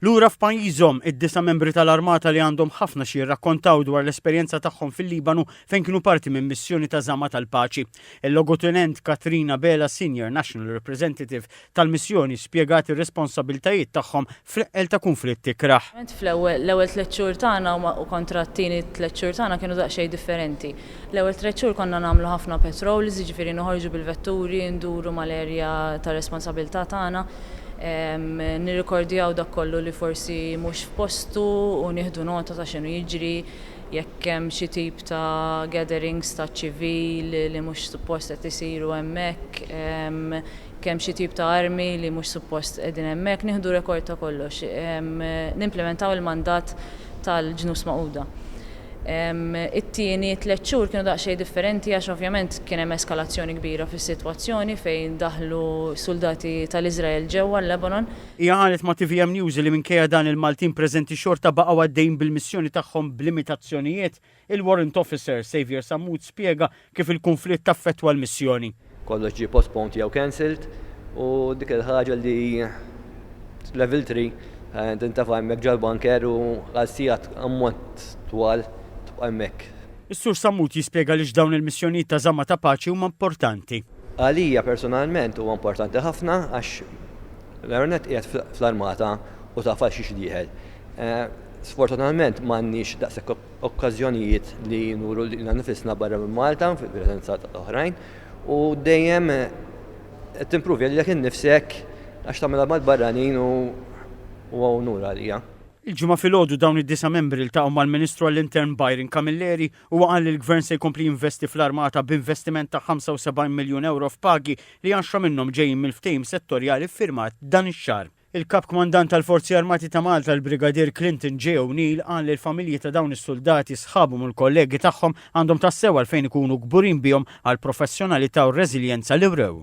Lura f'pajjiżhom, id-disa' membri tal-armata li għandhom ħafna xi jirrakkontaw dwar l-esperjenza tagħhom fil-Libanu fejn kienu parti minn missjoni ta' żama tal-paċi. Il-Logotunent Catherine Abela, Senior National Representative tal-missjoni, spjegat ir-responsabiltajiet tagħhom fl-eqqel ta' kunflitt ikrah. L-ewwel tliet xhur tagħna u kontra t-tieni tliet xhur tagħna kienu daqsxejn differenti. L-ewwel tliet xhur konna nagħmlu ħafna patrols, jiġifieri noħorġu bil-vetturi, nduru mal-area ta' responsabilità tagħna, nirrikordjaw dak kollu li forsi mhux f'postu u nieħdu nota ta' x'inhu jiġri, jekk hemm xi tip ta' gatherings taċ-ċivil li mhux suppost qed isiru hemmhekk, jekk hemm xi tip ta' armi li mhux suppost qegħdin hemmhekk, nieħdu rekord ta' kollox. Nimplimentaw il-mandat tal-Ġnus Magħquda. It-tieni tliet xhur kienu daqsxejn differenti għax ovvjament kien hemm eskalazzjoni kbira fis-sitwazzjoni fejn daħlu suldati tal-Iżrael ġewwa l-Lebanon. Hija qalet ma' tvm News li minkejja dan il-Maltin preżenti xorta baqgħu għaddejjin bil-missjoni tagħhom b'limitazzjonijiet. Il-Warrant Officer, Saviour Sammut spjega Kif il-kunflitt affettwa l-missjoni? Kollox ġie postponed jew cancelled u dik il-ħaġa li level three tintefa' hemmhekk ġol-bunker u għal sigħat ammont twal tibqa' hemmhekk. Is-Sur Sammut jispjega għaliex dawn il-missjonijiet ta' żamma ta' paċi huma importanti. Għalija personalment huwa importanti ħafna għax l-ewwel nett qiegħed fl-armata u taf għal xiex dieħel. Sfortunatament m'għandniex daqshekk okkażjonijiet li nuru lilna nnifisna barra minn Malta fil-preżenza ta' oħrajn u dejjem qed timpruvja lilek innifsek għax tagħmilha mal-barranin u huwa unur għalija. Il-Ġimgħa filgħodu dawn id-disa' membri ltaqgħu mal-Ministru għall-Intern Byron Camilleri, huwa qal li l-Gvern se jkompli jinvesti fl-Armata b'investiment ta' 75 miljun ewro f'pagi li għaxra minnhom ġejjin mill-ftehim settorjali ffirmat dan ix-xahar. Il-Kap Kmandant tal-Forzi Armati ta' Malta l-Brigadier Clinton J. O'Neill qal li l-familji ta' dawn is-suldati, sħabhom u l-kollegi tagħhom għandhom tassew għalfejn ikunu kburin bihom għall-professjonalità u r-reżiljenza li wrew.